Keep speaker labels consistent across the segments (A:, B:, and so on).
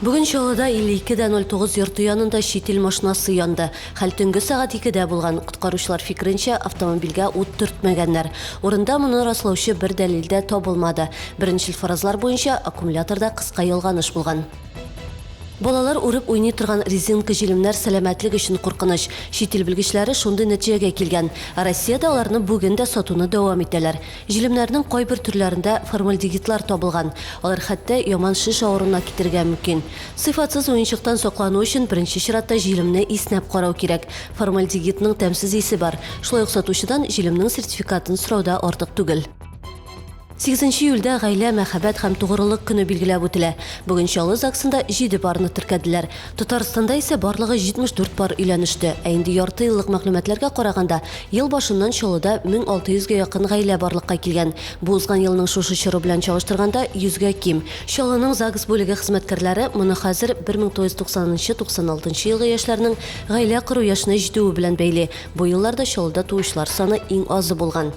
A: Бүген Чаллыда 52 дә 09 йорты янында чит ил машинасы янды. Хәл төнге сәгать 2-дә булган. Коткаручылар фикеренчә, автомобильгә ут төртмәгәннәр. Урында моны раслаучы бер дәлил дә табылмады. Беренчел фаразлар буенча, аккумуляторда кыска ялганыш булган. Балалар үреп уйный торган резинка җилемнәр сәламәтлек өчен куркыныч. Чит ил белгечләре шундый нәтиҗәгә килгән. Ә Россиядә аларны бүген дә сатуны дәвам итәләр. Җилемнәрнең кайбер төрләрендә формальдегидлар табылган, алар хәтта яман шеш авыруына китергә мөмкин. Сыйфатсыз уенчыктан саклану өчен беренче чиратта җилемне иснәп карау кирәк. Формальдегидның тәмсез исе бар, шулай ук сатучыдан җилемнең сертификатын сорау да артык түгел. Сигезенче июльдә Гаилә, мәхәббәт һәм тугрылык көне билгеләп үтелә. Бүген Чаллы ЗАГСында җиде парны теркәделәр. Татарстанда исә барлыгы 74 пар өйләнеште, ә инде ярты еллык мәгълүматларга караганда, ел башыннан Чаллыда 1600 гә якын гаилә барлыкка килгән. Бу узган елның шушы чоры белән чагыштырганда 100 гә ким. Чаллының ЗАГС бүлеге хезмәткәрләре моны хәзер 1990-96 елгы яшьләрнең гаилә кору яшенә җитүе белән бәйли. Бу елларда Чаллыда туучылар саны иң азы булган.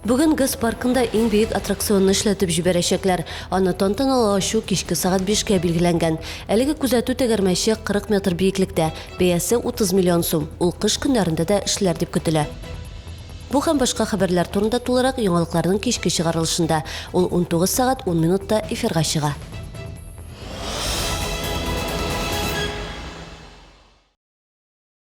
A: Бүген ГЭС паркында иң бөек аттракционны эшләтеп җибәрәчәкләр. Аны тантаналы ачу кичке сәгать бишкә билгеләнгән. Әлеге күзәтү тәгәрмәче 40 метр биеклектә, бәясе 30 миллион сум. Ул кыш көннәрендә дә эшләр дип көтелә. Бу һәм башка хәбәрләр турында тулырак яңалыкларның кичке чыгарылышында. Ул 19 сәгать 10 минутта эфирга чыга.